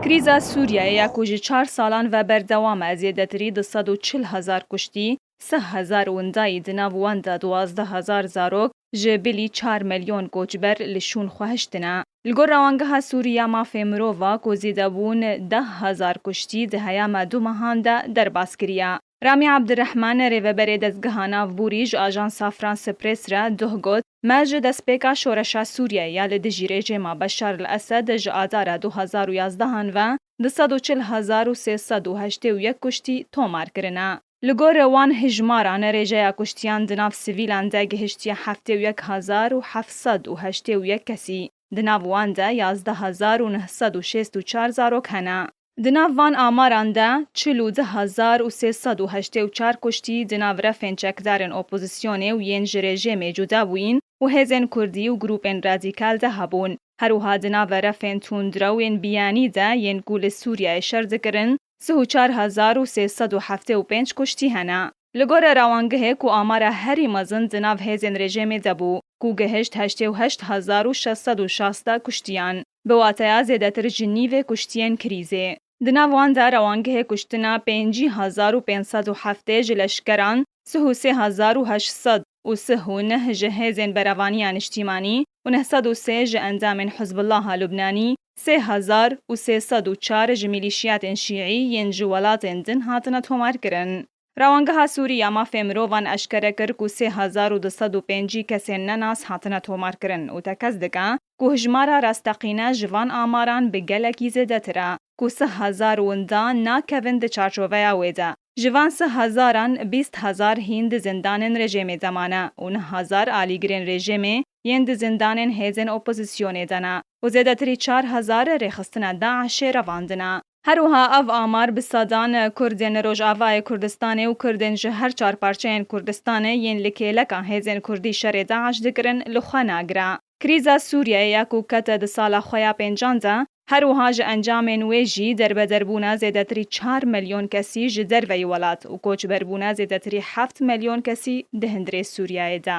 Krîza Sûriyeyê ya ku ji çar salan ve berdewam e, zêdetirî di sed û çil hezar kuştî, sih hezar windayî di nav wan de duwazdeh hezar zarok, ji bilî çar milyon koçber li şûn xwe hiştine. Li gor Rewangeha Sûrî ya Mafê Mirova ku zêdebûn deh hezar kuştî di heyama du mehan de derbas kiriye, Ramî Abdirehman, Rêveberê Dezgeha Navbûrî ji Ajansa France Presse re duh got, Me ji destpêka şoreşa Sûriyeyê ya li dijî rejîma Beşar li Esed ji Adara du hezar û yazdeh an ve du sed û çil hezar û sê sed û heştê û yek kuştî tomar kirine. Li gor wan hejmaran rêjeya kuştiyan di nav sivîlan de gihiştiye heftê û yek hezar û heft sed û heştê û yek kesî, di nav wan de yazdeh hezar û neh sed û şêst û çar zarok hene. Di nav van amaran de çil û du hezar û sê sed û heştê û çar kuştî di nav refên çekdarên opozîsyonê û yên ji rejêmê cuda bûyîn û hêzên kurdî û grûpên radîkal de hebûn. Herwiha di nave refên tundrew ên biyanî de yên ku li Sûriyeyê şer dikirin sih û çar hezar û sê sed û heftê û pênc kuştî hene. Li gore rawangihê ku amara herî mezin di nav hêzên rejêmê de bû, ku gihişt heştê û heşt hezar û şeş sed û şazdeh kuştiyan, bi wateya zêdetir ji nîvê kuştiyên krîzê. Di nav wan de rawangihê kuştina pêncî hezar û pênc sed û heftê ji leşkeran, sih û sê hezar û heşt sed û sih û neh ji hêzên berevaniya niştîmanî, û neh sed û sê ji endamên Hizbûllaha Lubnanî, sê hezar û sê sed û çar ji mîlîşiyatên şîî yên ji welatên din hatine tomarkirin. Rawangeha Sûrî ya Mafê Mirovan eşkere kir ku sê hezar û du sed û pêncî kesên nenas hatine tomarkirin û tekez dike ku hijmara rasteqîne ji van amaran bi gelekî zêdetir e ku sih hezar winda nakevin di çarçoveya wê de. Ji van sih hezaran, bîst hezar hîn di zindanên rejêmê de mane û neh hezar alîgirên rejêmê yên di zindanên hêzên opozîsyonê de ne û zêdetirî çar hezar rêxistina DAIŞ'ê revandine. Her wiha ev amar bi sedan Kurdên li Rojavayê Kurdistanê û Kurdên ji her çar parçeyên Kurdistanê yên li kêleka hêzên Kurdî şerê DAIŞ dikirin li xwe nagire. Krîza Sûriyeyê ya ku kete di sala xwe ya pêncan de, Her wiha ji encamên wê jî derbederbûna zêdetirî çar melyon kesî ji derveyî welat û koçberbûna zêdetirî heft melyon kesî di hundirê Sûriyeyê de.